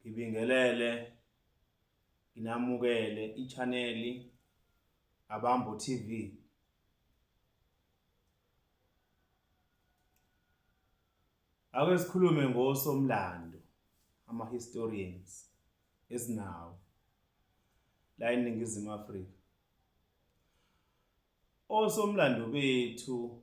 ngibingelele nginamukele ichaneli abambo TV ake sikhulume ngosomlando ama historians esinawo la eningizimu Afrika osomlando bethu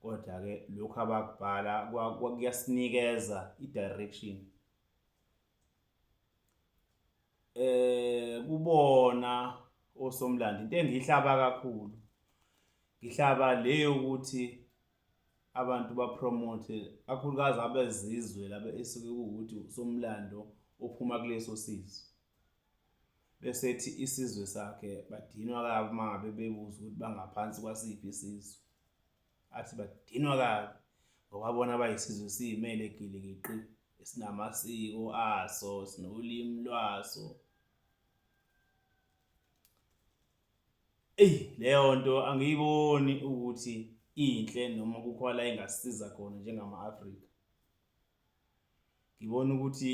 Kodwa-ke lokhu abakubhala kuyasinikeza i-direction eh kubona osomlando into engihlaba kakhulu ngihlaba le yokuthi abantu bapromote kakhulukazi abezizwe laba esuke kuwukuthi usomlando ophuma kuleso sizwe bese ethi isizwe sakhe badinwa kabi uma ngabe bebuza ukuthi bangaphansi kwasiphi isizwe Athi badinwa kabi ngoba bona bayisizwe siyimele gilikiqi esinamasiko aso sinolimi lwaso eyi leyo nto angiyiboni ukuthi inhle noma kukhona la ingasiza khona njengama-afrika ngibona ukuthi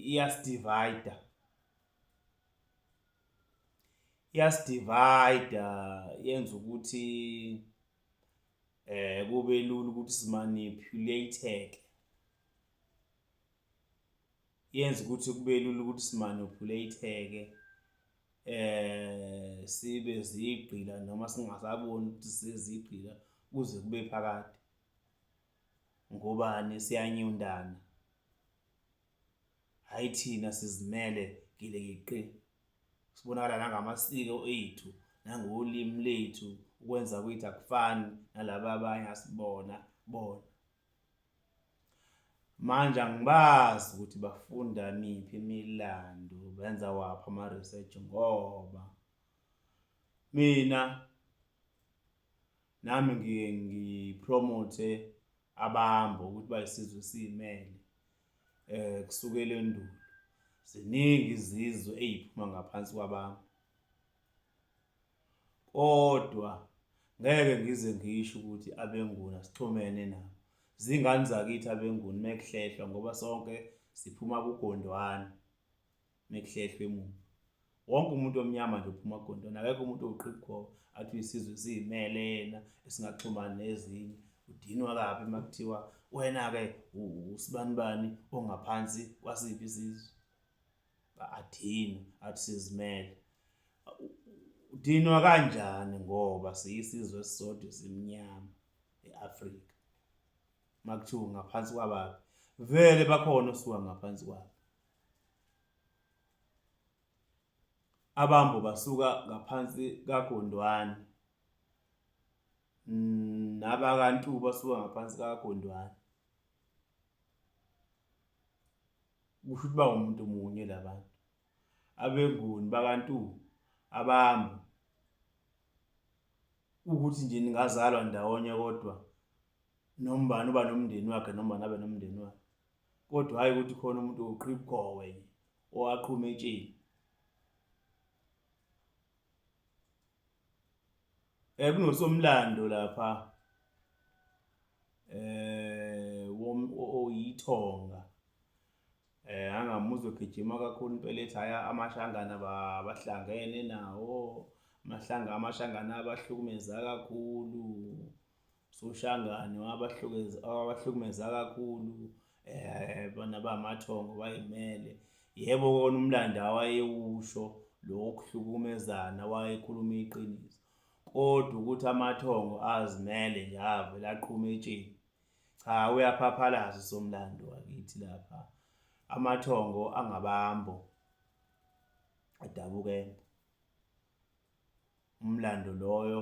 iyasidivayida iyasidivayida yenza ukuthi eh kube lula ukuthi simanipulate-ke yenza ukuthi kube lula ukuthi simanipulate-ke eh sibe zigqila noma singasaboni ukuthi sezigqila kuze kube phakade ngobani siyanyundana Hhayi thina sizimele gilikiqi. Sibonakala nangamasiko ethu, nangolimi lethu, ukwenza kwethu akufani nalaba abanye asibona bona. Manje angibazi ukuthi bafunda miphi imilando, benza waphi ama-research ngoba mina nami ngiye ngipromote abamba ukuthi bayisizwe siyimele eh kusukela endulo ziningi izizwe eziphuma ngaphansi kwabantu kodwa ngeke ngize ngisho ukuthi abenguna sixhumene nabo zingane zakithi abenguni mekuhlehlwa ngoba sonke siphuma kugondwana mekuhlehlwe emuva wonke umuntu omnyama nje uphuma agondona akekho umuntu owuqibukho athi uyisizwe siyimele yena esingaxhumani nezinye udinwa kabi uma kuthiwa wena-ke usibanibani ongaphansi kwasiphi isizwe adinwe athi sizimele udinwa kanjani ngoba siyisizwe esisodwa simnyama e-afrika uma kuthiwa ngaphansi kwabaphi vele bakhona osuka ngaphansi kwabo Abambo basuka ngaphansi kaGondwani mm, nabakantu basuka ngaphansi kaGondwani. Kusho ukuthi bawumuntu munye labantu. Abenguni bakantu abambo ukuthi nje ningazalwa ndawonye kodwa noma ubani uba nomndeni wakhe noma ubani abe nomndeni wakhe. kodwa hhayi ukuthi khona umuntu owuqhibukhowe nje owaqhuma etsheni um eh, kunosomlando lapha um oyithonga eh angamuzwe gijima kakhulu impela ethi haya amashangana bahlangene nawo amahlanga amashangana abahlukumeza kakhulu soshangane wabahlukumeza kakhulu eh bona bamathongo bayimele yebo kona umlando awayewusho lokuhlukumezana wayekhuluma iqiniso kodwa ukuthi amathongo azimele nje avele aqhume etsheni cha uyaphaphalaza somlando wakithi lapha amathongo angabambo adabukembo umlando loyo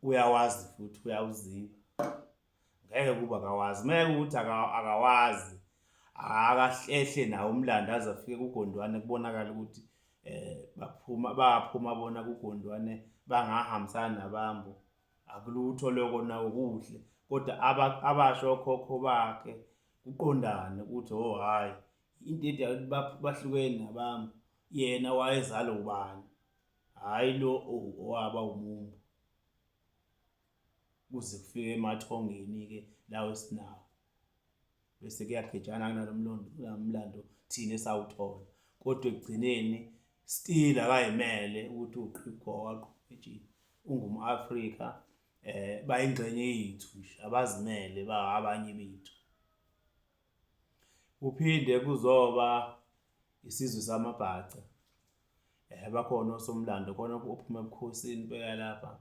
uyawazi futhi uyawuziba ngeke kuba akawazi meke ukuthi akawazi akahlehle nawo umlando aze afike kugondwane kubonakala ukuthi eh baphuma baphuma bona kugondwane bangahambisana nabambo akulutho lokho nawo kuhle kodwa abasho okhokho bakhe kuqondane ukuthi oh hayi into ethi bahlukene nabami yena wayezala ubani hhayi lo owaba umumbu kuze kufike emathongeni-ke lawo esinawo bese kuyagejana kunalo mlando thina esawuthola kodwa ekugcineni still akayimele ukuthi uqhibhwa waqhubejini ungum-afrika um eh, bayingxenye yethu nje abazimele ba abanye bethu kuphinde kuzoba Isizwe samaBhaca. Eh bakhona osomlando khona ophuma ebukhosini beka lapha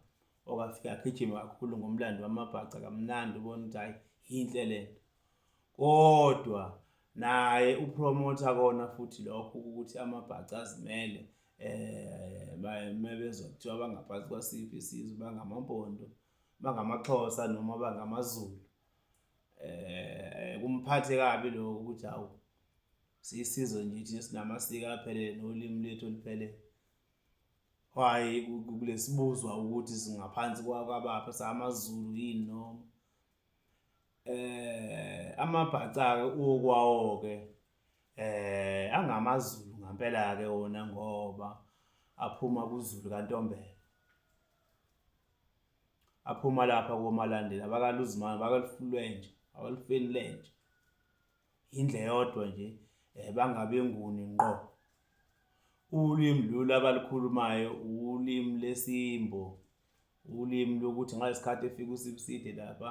okafika agijima kakhulu ngomlando wamaBhaca kamnandi ubona ukuthi hayi yinhle lento. Kodwa naye upromoter kona futhi lokho ukuthi amaBhaca azimele eh mebezwa kuthiwa bangaphansi kwasiphi isizwe bangamampondo bangamaXhosa noma bangamaZulu eh kumphathe kabi lokho ukuthi awu sisizwe nje thina sinamasiko aphelele nolimi lethu oluphelele why kulesibuzwa ukuthi singaphansi kwakabapha samaZulu yini noma eh amabhaca ke ukwawo ke eh angamaZulu ngampela ke wona ngoba aphuma kuZulu kaNtombela aphuma lapha komalandela abakaluzimana bakalufulenje abalufeni lenje indle yodwa nje eh, bangabe nguni ngqo ulimi lolu abalukhulumayo ulimi lesimbo ulimi lokuthi ngalesi khathi efika usibiside lapha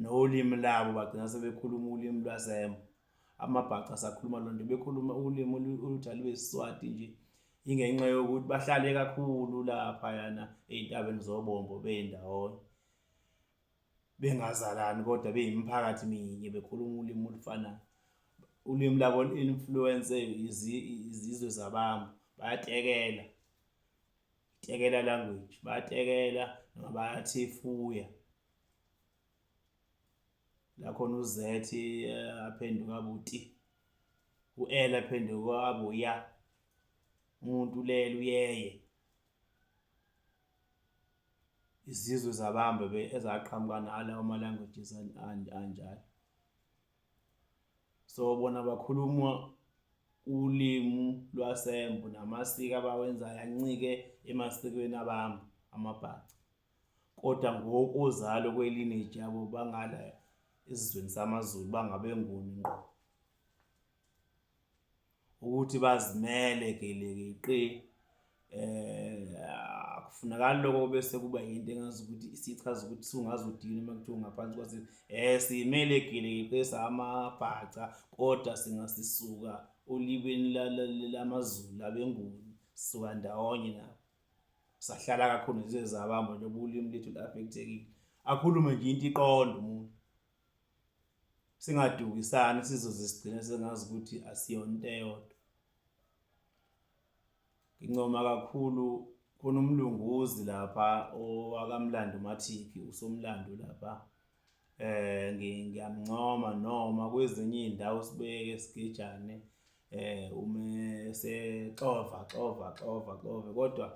nolimi labo bagcina sebekhuluma ulimi lwasemo amabhaca asakhuluma loo nto bekhuluma ulimi oluthi alubesiswati nje ingenxa yokuthi bahlale kakhulu laphayana ey'ntabeni zobombo beyindawonye bengazalani kodwa beyimiphakathi minye bekhuluma ulimi olufanayo ulimi labo influence izizwe zabantu bayatekela tekela language bayatekela noma bayathefuya la khona u-z eh, aphenduka abuti u-l aphenduka abuya umuntu ulele uyeye izizwe zabambe ezaqhamuka nala ama languages anjalo so bona bakhuluma ulimu lwasembo namasiko abawenzayo ancike emasikweni abami amabhaca Koda ngokozalo kwe lineage yabo bangala esizweni samaZulu bangabenguni ngqo. Ukuthi bazimele gelekeqe eh akufunakali lokho bese kuba yinto engazi ukuthi isichaza ukuthi sungaze udini uma kuthiwa ngaphansi kwase eh simele gelekeqe samabhaca kodwa singasisuka olibeni lamaZulu abenguni suka ndawonye nabo. sahlala kakhulu nje zabamba nje ubulimi lethu lafekthekile akhulume nje into iqonda umuntu singadukisani sizoze sigcine sengazi ukuthi asiyona into eyodwa ngincoma kakhulu khona umlunguzi lapha owakamlando mathiki usomlando lapha eh ngiyamncoma noma kwezinye izindawo sibeke sigijane eh ume sexova xova xova xova kodwa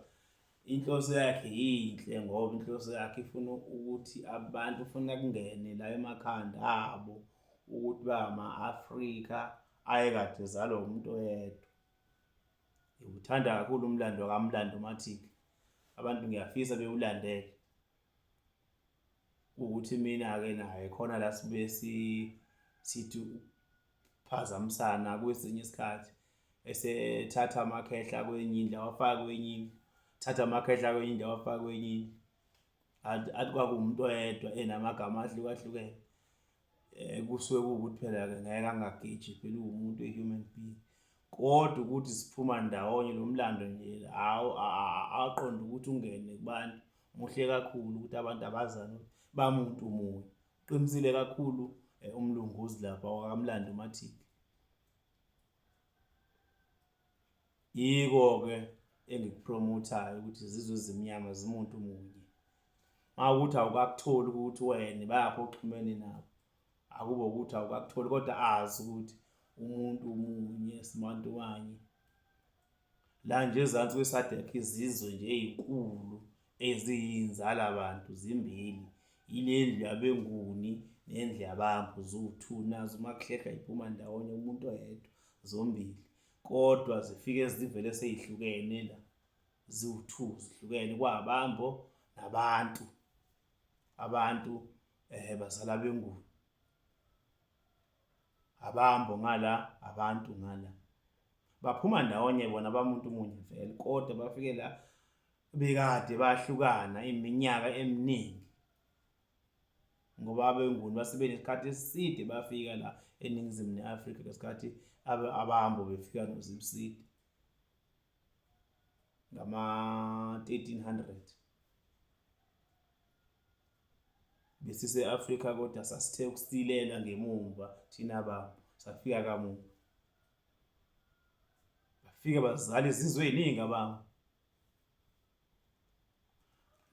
inhloso yakhe yinhle ngoba inhloso yakhe ifuna ukuthi abantu ufuna kungene la emakhanda abo ukuthi ba ama-Afrika ayekade ezalwa umuntu oyedwa ngiwuthanda kakhulu umlando kamlando mathike abantu ngiyafisa bewulandele ukuthi mina-ke naye khona la sibuye sithi ukuphazamisana kwesinye isikhathi esethatha amakhehla kwenye indlu awafake kwenye indlu thatha amakhehla kwenye indlu awafake kwenye indlu athi kwakuwumuntu oyedwa enamagama ahlukahlukene Eh kusuke kuwukuthi phela ke ngeke angagiji phela uwumuntu uyi-human being. Kodwa ukuthi siphuma ndawonye lo mlando nje hawu aqonde ukuthi ungene kubantu muhle kakhulu ukuthi abantu abazane ukuthi bamuntu munye. Uqinisile kakhulu eh, umlungu uzilapha wakamlando umathiki. Yiko-ke engikupromothayo ukuthi zizwe ezimnyama zimuntu munye. Mawukuthi awukakutholi ukuthi wena bayaphi oxhumene nabo. Akube ukuthi awukakutholi kodwa azi ukuthi umuntu munye sibantu wanye. La nje ezansi kweSADC izizwe nje ezinkulu Eziyinzala bantu zimbili ilendlu yabenguni nendlu yabampu ziwu-two nazo uma kuhlehla iphuma ndawonye umuntu oyedwa zombili kodwa zifike zivele seyihlukene la ziwu-two zihlukene kwabambo nabantu abantu eh bazala benguni abambo ngala abantu ngala baphuma ndawonye bona bamuntu munye vele kodwa bafike la bekade bahlukana iminyaka eminingi ngoba abenguni basibe nesikhathi eside bafika la eningizimu ne-afrika ngesikhathi abahambo befika nozimside ngama-1300 besise-afrika kodwa sasithe ukusilela ngemumva thina bantu safika kamuva bafike bazala izizwe eyiningi abantu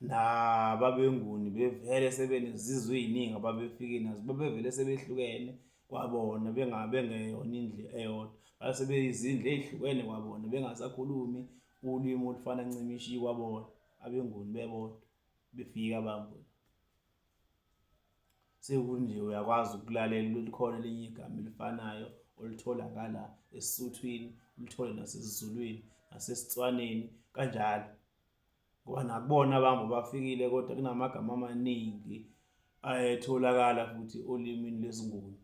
nababenguni bevele sebenezizwe eziningi ababefike nazo babevele sebehlukene kwabona bengabengeyona indle eyodwa base beyizindle ezihlukene kwabona bengasakhulumi ulimi olufana ncimishi kwabona abenguni bebodwa befika bambona Sekunje uyakwazi ukulalela ukuthi khona elinye igama elifanayo olithola ngala esiSuthwini, ulithole nasesiZulwini, nasesiTswaneni kanjalo. Ngoba nakubona abantu bafikile kodwa kunamagama amaningi ayetholakala futhi olimini lesiNguni.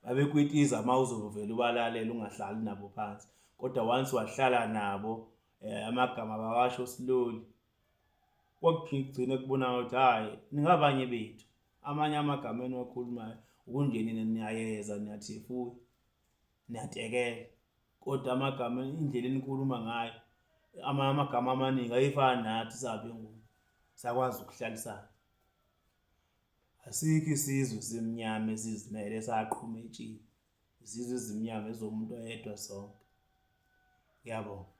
Babekwitiza uma uzovele ubalalela ungahlali nabo phansi, kodwa once wahlala nabo eh, amagama bawasho siloli. kwakugcine kubonakala ukuthi hhayi ningabanye bethu amanye amagama eniwakhulumayo ukungenile niyayeza niyathefula niyatekela kodwa amagama indlela enikhuluma ngayo amanye amagama amaningi ayifani nathi sabe ngoku sakwazi ukuhlalisana asikho isizwe simnyama esizimele saqhuma etshini izizwe ezimnyama ezomuntu oyedwa sonke ngiyabonga